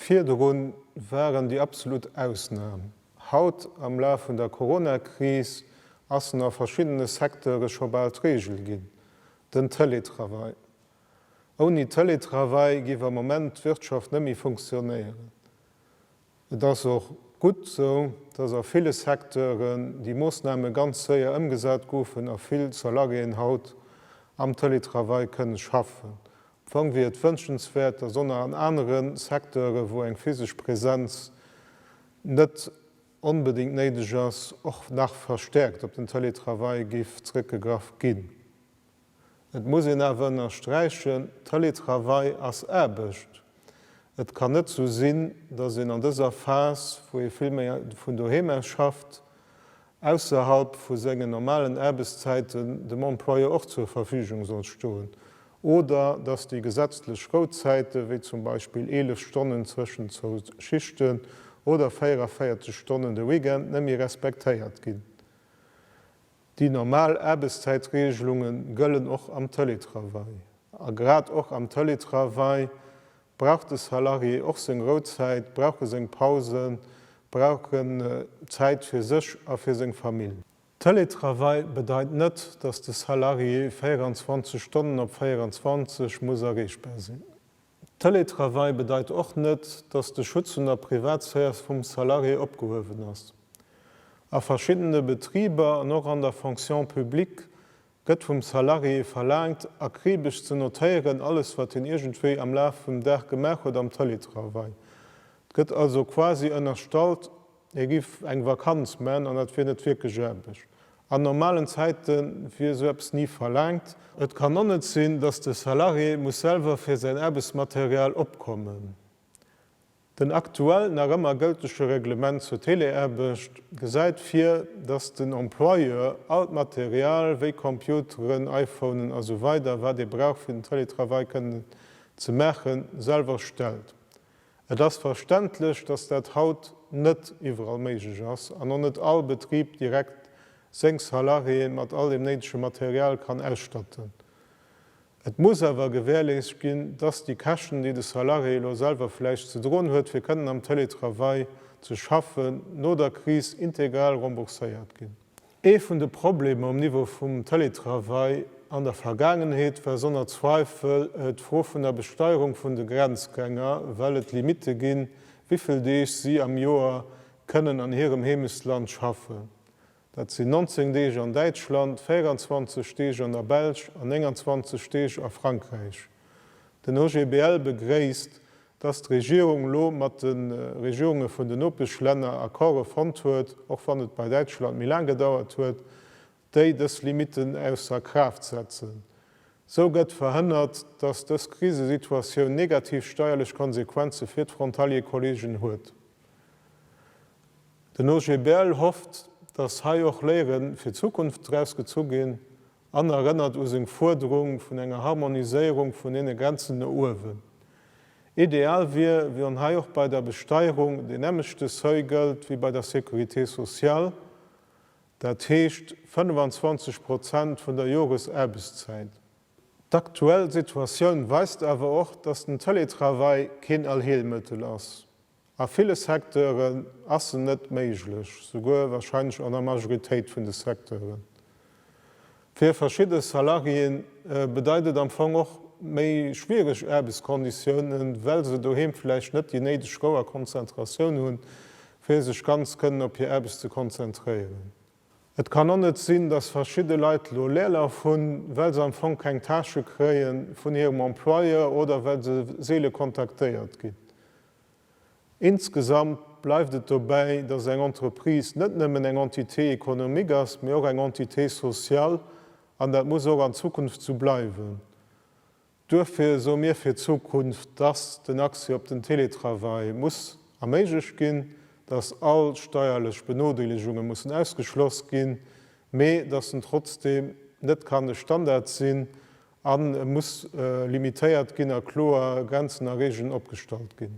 Virdrun waren déi absolut Ausnam. Haut, am Laf vun der Corona-Kris, ass en a verschiddene Secteure scho bal d'Regel ginn, den Teletravail. Ouni Teletravail géif am Moment d'Wirtschaft net méi funktionéieren. Et ass och gutt esou, dass a ville Secteuren déi Moossname ganz séier ëmgesat goufen a vill Salariéen haut am Teletravail kënnen schaffen. Am Fong wier et wënschenswäert, dass och nach an anere Secteuren, wou eng physesch Präsenz net onbedéngt néideg ass, och nach verstärkt op den Teletravail géif zrëckgegraff ginn. Et muss een awer ënnersträichen, Teletravail ass Aarbecht. Et kann net esou sinn, datt een an dëser Phas, wou ee vill méi vun doheem aus schafft, ausserhalb vu sengen normalen Aarbechtszäiten dem Employeur och zur Verfügung soll stoen oder datt déi gesetzlech Rouzäiten, wéi zum Beispill 11 Stonnen zwëschen zwou Schichten oder 44 Stonnen de Weekend, net méi respektéiert ginn. Déi normal Aarbechtszäitreegelunge gëllen och am Teletravail. A grad och am Teletravail brauch de Salarié och seng Rouzäit, brauch e seng Pausen, brauch en Zäit fir sech a fir seng Famill. Teletravail bedeit net, datt de Salarié 24 Stonnen op 24 muss erreechbar sinn. Teletravail bedeit och net, datt de Schutz vun der Privatsphäre vum Salarié opgehuewen ass. A verschiddene Betriber an och an der Fonction publique gëtt vum Salarié verlaangt, akribesch ze notéieren, alles wat hien iergendwéi am Laf vum Dag gemaach huet am Teletravail. 't gëtt also quasi ënnerstallt, Et giff eng Vakanz, men an dat wier net wierklech Aarbecht. An normalen Zäiten wier esou eppes ni verlaangt. Et kann och net sinn, dass de Salarié muss selwer fir säin Aarbechtsmaterial opkommen. Den aktuell nach ëmmer gëltege Reglement zur Teleaarbecht gesäit vir, dass den Employeur all d'Material wéi Computeren, iPhonen a sou weider wat ee brauch fir den Télétravail kënnen ze maachen, selwer stellt. Et ass verständlech, dass dat haut net iwwerall méiglech ass an och net all Betrib direkt seng Salariéeë mat all dem néidege Material kann ausstatten. Et muss awer gewährleescht ginn, dass déi Käschten, déi de Salarié elo selwer vläicht ze droen huet, fir kënnen am Télétravail ze schaffen, no der Kris integral rembourséiert ginn. Ee vun de Problemer um Niveau vum Télétravail an der Vergaangenheet war sonner Zweifel d'Fro vun der Besteierung vun de Grenzgänger, well et Limitte ginn, wivill Deeg si am Joer kënnen an hirem Heemechtsland schaffen. Dat sinn 19 Deeg an Däitschland, 24 Deeg an der Belsch an 29 Deeg a Frankräich. Den OGBL begréisst, dass d'Regierung elo mat de Regierunge vun den Nopeschlänner Accorde fonnt huet, och wann et bei Däitschland méi laang gedauert huet, déi dës Limiten ausser Kraaft setzen. Esou gëtt verhënnert, dass dës Krisesituatioun negativ steierlech Konsequenze fir d'Frontalier-Kollegen huet. Den OGBL hofft, dass hei och Léiere fir d'Zukunft draus gezu ginn. An erënnert u seng Fuerderung vun enger Harmoniséierung vun deene Grenzen no uewen. Ideal wier, wann hei och bei der Besteierung deen nämmlechte Seuil gëllt wéi bei der Sécurité sociale, dat heescht 25 Prozent vun der Joresaarbechtszäit. D'aktuell Situatioun weist awer och, dass den Teletravail keen Allheelmëttel ass. A ville Secteuren ass se net méiglech, souguer wahrscheinlech an der Majoritéit vun de Secteuren. Fir verschidde Salariéen bedeit et am Fong och méi schwiereg Aarbechtskonditiounen, well se doheem vläicht net déi néideg Rou a Konzentratioun hunn, fir sech ganz kënnen op hir Aarbecht ze konzentréieren. Et kann och net sinn, dass verschidde Leit elo Leerlauf hunn, well se am Fong keng Tâche kréie vun hirem Employeur oder well se seele kontaktéiert ginn. Insgesamt bleift et dobäi, dass eng Entreprise net nëmmen eng Entité économique ass, mee och eng Entité sociale, an dat muss och an Zukunft esou bleiwen. Duerfir soe mir fir d'Zukunft, dass den Accès op den Télétravail muss erméiglecht ginn, dass all steierlech Benodeelegunge mussen ausgeschloss ginn, mee dass en trotzdeem net kann e Standard sinn an e muss limitéiert ginn a kloer Grenzen a Regeln opgestallt ginn.